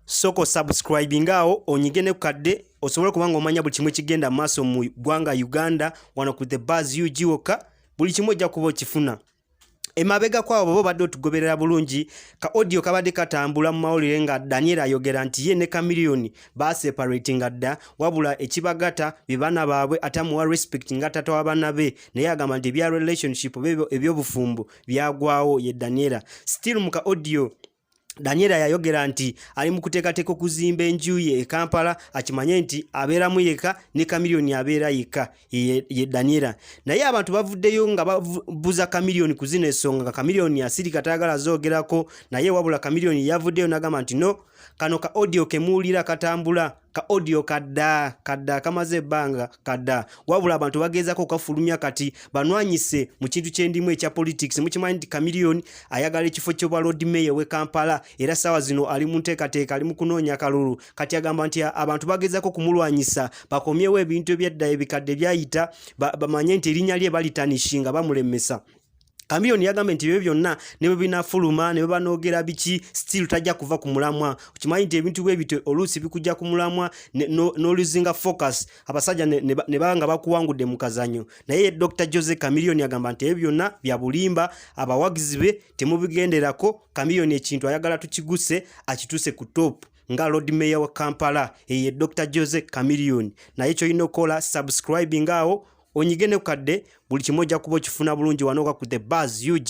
soko subscribe ngao onyige ne kukadde osobole kubanga omanya buli kimu kigenda maaso mu gwanga Uganda wano ku the buzz UG woka buli kimu ojja kuba okifuna emabega kwabo babo badde otugoberera bulungi ka audio kabadde katambula mu mawulire nga Daniel ayogera nti ye ne Chameleone baseparatinga dda wabula ekibagata be bana baabwe atamuwa respect nga tata wa bana be naye agamba nti ebya relationship ebyobufumbo byagwawo ye Daniela still mu ka audio Daniela yayogera nti ali mu kuteekateeka okuzimba enju ye e Kampala akimanye nti abeeramu yekka ne Chameleone abeera yekka ye Daniela naye abantu bavuddeyo nga babuza Chameleone ku zino ensonga nga Chameleone asirika tayagala zoogerako naye wabula Chameleone yavuddeyo n'agamba nti no kano ka audio ke muwulira katambula ka audio kadda kadda kamaze ebbanga kadda wabula abantu bageezako okafulumya kati banwanyise mu kintu kyendimu ekya politics mukimanyi nti kamiliyoni ayagala ekifo kyobwa lord mayor we kampala era saawa zino ali mu nteekateeka ali mu kunoonya kalulu kati agamba nti abantu bageezako okumulwanyisa bakomyewo ebintu ebyadda ebikadde byayita bamanye nti erinnya lye balitanishinga bamulemesa Kamiyoni yagambye nti ebyo byonna ne bwe binafuluma ne bwe banoogera biki still tajja kuva ku mulamwa okimanyi nti ebintu bwe bityo oluusi bikujja ku mulamwa n'oluzinga focus abasajja ne baba nga bakuwangudde mu kazanyo naye dr jose kamiliyoni agamba nti ebyo byonna bya bulimba abawagizi be temubigenderako kamiliyoni ekintu ayagala tukiguse akituuse ku topu nga lord mayor wa kampala eye dr jose kamiliyoni naye kyolina okukola subscribing awo onyige ne kukadde buli kimu ojja kuba okifuna bulungi wanooka ku the bars ug